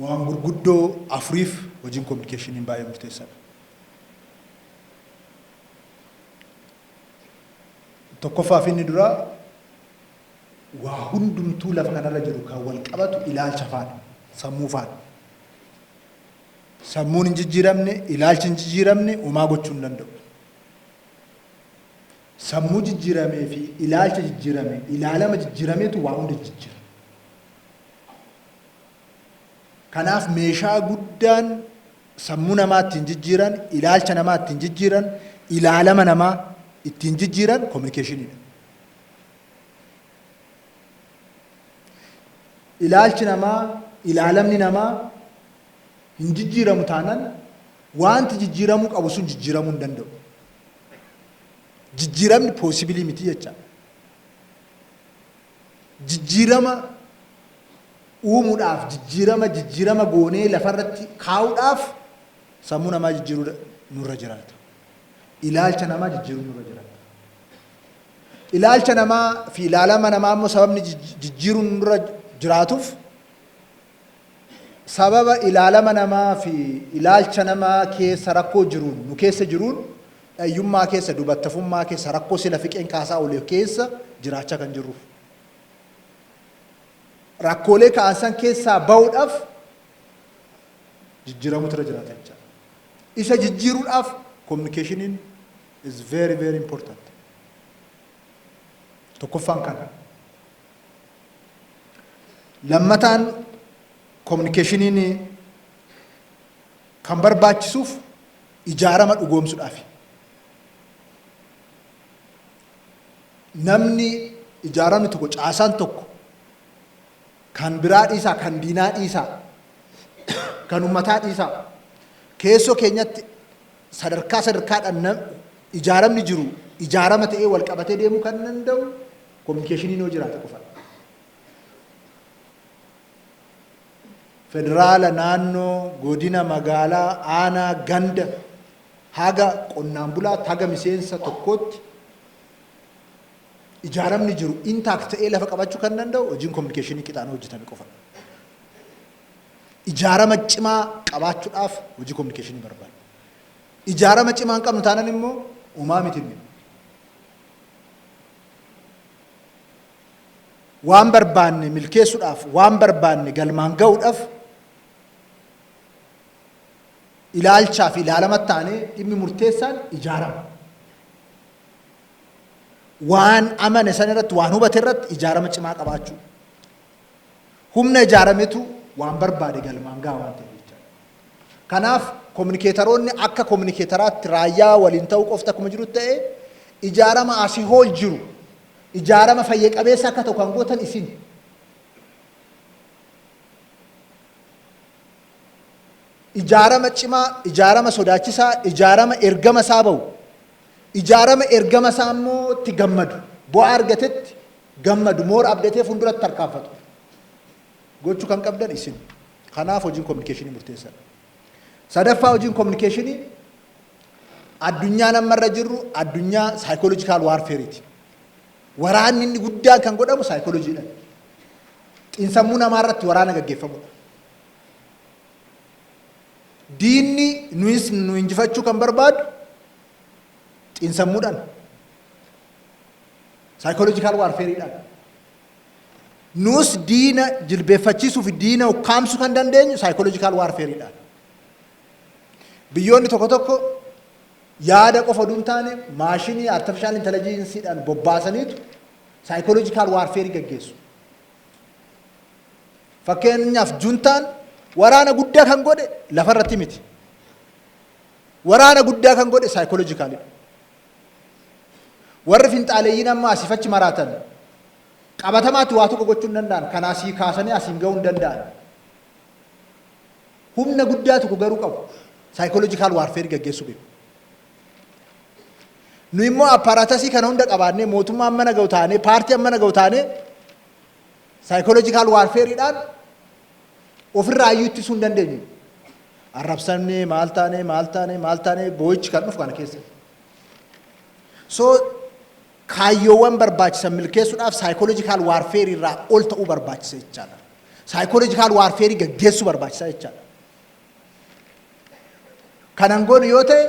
Waan gurguddoo afuriif hojiin kominikeeshiniin baay'ee murteessaadha. Tokkoffaa fi inni duraa waa hundumtuu lafa kanarra jiru kan wal qabatu ilaalcha faana, sammuu faana. Sammuun hin jijjiiramne, ilaalchi hin jijjiiramne homaa gochuu hin danda'u. Sammuu jijjiiramee fi ilaalcha jijjiirame, ilaalama jijjiirameetu waa hunda jijjiira. Kanaaf meeshaa guddaan sammuu namaa ittiin jijjiiran, ilaalcha namaa ittiin jijjiiran, ilaalama namaa ittiin jijjiiran kominikeeshiniidha. Ilaalchi namaa, ilaalamni namaa hin jijjiiramu taanan waanti jijjiiramuu qabu sun jijjiiramuu hin danda'u. Jijjiiramni poosibilii miti jecha. Jijjiirama uumuudhaaf, jijjiirama jijjiirama goonee lafarratti kaa'uudhaaf sammuu namaa jijjiiruu nurra jiraata. Ilaalcha namaa jijjiiruu nurra jiraata. Ilaalcha namaa fi ilaalama namaa immoo sababni jijjiiruun nurra jiraatuuf sababa ilaalama namaa fi ilaalcha namaa keessa rakkoo jiruun nu keessa jiruun dhayyummaa keessa dubattafummaa keessa rakkoo sila fiqeen kaasaa olee keessa jiraachaa kan jirruuf. Rakkoolee ka'an san keessaa ba'uudhaaf jijjiiramutu irra jiraata jechaadha. Isa jijjiiruudhaaf kominikeeshiniin is very very important. Tokkoffaan kana. Lammataan kominikeeshiniin kan barbaachisuuf ijaarama dhugoomsudhaafi. Namni ijaaramni tokko caasaan tokko kan biraa dhiisaa kan diinaa dhiisaa kan ummataa dhiisaa keessoo keenyatti Sadarkaa sadarkaadhaan ijaaramni jiru ijaarama ta'ee walqabatee deemuu kan danda'u kominikeeshiniin yoo jiraate qofadha. Federaala, naannoo, godina, magaalaa, aanaa, ganda haga qonnaan bulaatti haga miseensa tokkootti ijaaramni jiru intaakt ta'ee lafa qabachuu kan danda'u hojiin kominikeeshinii qixaan hojjetame qofadha. Ijaarama cimaa qabaachuudhaaf hojii kominikeeshinii barbaadna. Ijaarama cimaa hin qabnu taanan immoo homaa miti nuyi. Waan barbaanne milkeessuudhaaf, waan barbaanne galmaan ga'uudhaaf ilaalchaa fi ilaalama taanee dhimmi murteessaan ijaarama. Waan amane san irratti, waan hubate irratti ijaarama cimaa qabaachuu. Humna ijaarametu waan barbaade galmaan gaha waan ta'eef jechaadha. Kanaaf kominikeetaroonni akka kominikeetaraatti raayyaa waliin ta'uu qofti akkuma jirutti ta'ee ijaarama asii hool jiru ijaarama fayya qabeessa akka ta'u kan gootan isin. Ijaarama cimaa, ijaarama sodaachisaa, ijaarama ergama isaa ba'u, ijaarama ergama isaa immoo itti gammadu, bu'aa argatetti gammadu more update funduratti tarkaanfatu gochu kan qabdan isin kanaaf hojiin communication murteessadha sadaffaa hojiin communication addunyaa amma irra jirru addunyaa psychological warfare ti waraanni inni guddaan kan godhamu psychology dha xinsammuu namaa irratti waraana gaggeeffamudha diinni nuyis nu injifachuu kan barbaadu xinsammuudhaan Saayikooloojikaal waarfeeriidhaan. Nuus diina jilbeeffachiisuu fi diina ukkaamsu kan dandeenyu saayikooloojikaal waarfeeriidhaan. Biyyoonni tokko tokko yaada qofa oduu hin taane maashinii artifishaal intelijiinsiidhaan bobbaasaniitu saayikooloojikaal waarfeerii gaggeessu. Fakkeenyaaf juntaan waraana guddaa kan godhe lafarratti miti. Waraana guddaa kan godhe saayikooloojikaalidha. Warri finxaaleyyiin amma asiif achi maraatan qabatamaatti waa tokko gochuu hin danda'an. Kan asii kaasanii asiin ga'uu hin danda'an. Humna guddaa tokko garuu qabu. Saayikooloojikaal waarfeerii gaggeessuu beeku. Nu immoo appaaraatasii kana hunda qabaannee mootummaa amma naga'u taanee paartii amma naga'u taanee Psychological warfare dhaan ofirraa iyyuu ittisuu hin dandeenyu. Arrabsamnee maal taanee maal taanee maal taanee boo'ichi kan dhufu kana keessa. So kaayyoowwan barbaachisan milkeessuudhaaf psychological warfare irraa ol ta'uu barbaachisa jechaadha. Psychological warfare gaggeessuu barbaachisa jechaadha. Kanan goonu yoo ta'e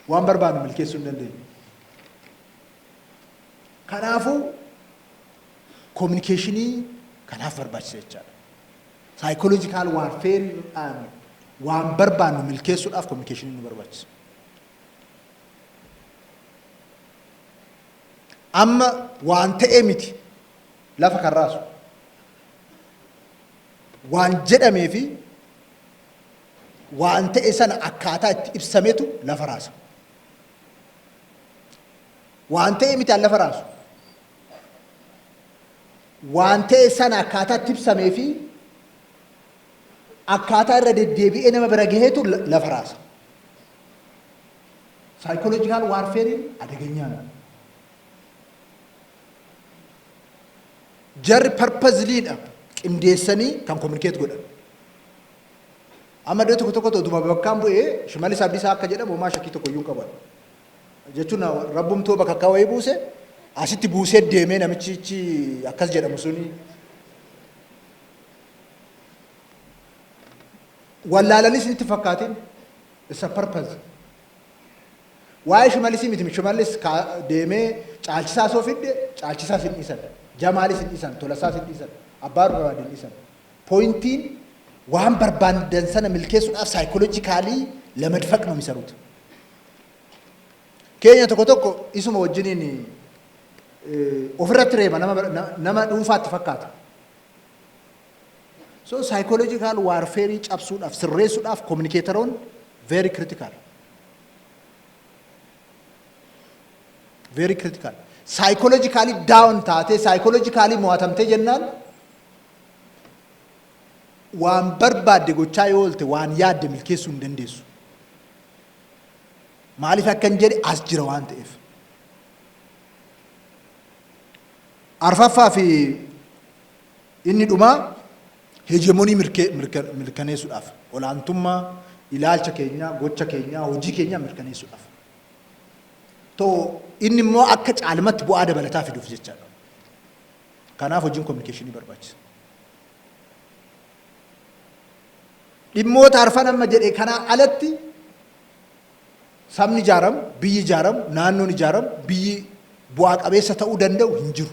waan barbaannu milkeessuu hin dandeenyu. Kanaafuu kominikeeshinii kanaaf barbaachisa jechaadha. Saayikooloojikaal waarfeeriidhaan waan barbaannu milkeessuudhaaf kominikeeshinii nu barbaachisa. Amma waan ta'ee miti lafa kan raasu. Waan jedhamee fi waan ta'e sana akkaataa itti ibsametu lafa raasa. Waan ta'e miti an lafa raasu. Waan ta'e sana akkaataa itti ibsamee fi akkaataa irra deddeebi'ee nama bira gaheetu la- lafa raasa. Saayikooloojikaal waarfeeriin adegenyaadha. Jarri parpaziliidha qindeessanii kan kominikeet godhan. Amma iddoo tokko tokkotti otuma bakkaan bu'ee Shimallis Abdiisaa akka jedhamu homaa shakkii tokko iyyuu hin qabu ani. Jechuun rabbumtuu bakakkaa wayii buuse asitti buusee deemee namichichi akkas jedhamu suni wallaalanii isinitti hin fakkaatin it's a purpose. Waa'ee Shimallisii miti Shimallis kaa- deemee caalchisaa soo fidde caalchisaa sin dhiisan jamaalis hin dhiisan tolasaas hin dhiisan abbaa barbaade hin dhiisan Pointiin waan barbaandan sana milkeessuudhaaf psychological lamadfaq no misarut. Keenya tokko tokko isuma wajjiniin ofirratti reeba nama nama dhuunfaatti fakkaata. So psychological warfare cabsuudhaaf sirreessuudhaaf communicatoronni very critical. Very critical. Psychologically down taatee psychologically mo'atamtee jennaan Waan barbaadde gochaa yoo oolte waan yaadde milkeessuu hin dandeessu. Maaliif akkan jedhe as jira waan ta'eef. Arfaffaa fi inni dhumaa heejemonii mirkaneessuudhaaf olaantummaa ilaalcha keenyaa, gocha keenyaa, hojii keenyaa mirkaneessuudhaaf. Too inni immoo akka caalmatti bu'aa dabalataa fiduuf jechaadha. Kanaaf hojiin kominikeeshinii barbaachisa. Dhimmoota arfan amma jedhe kanaa alatti sabni ijaaramu, biyyi ijaaramu, naannoon ijaaramu, biyyi bu'aa qabeessa ta'uu danda'u hin jiru.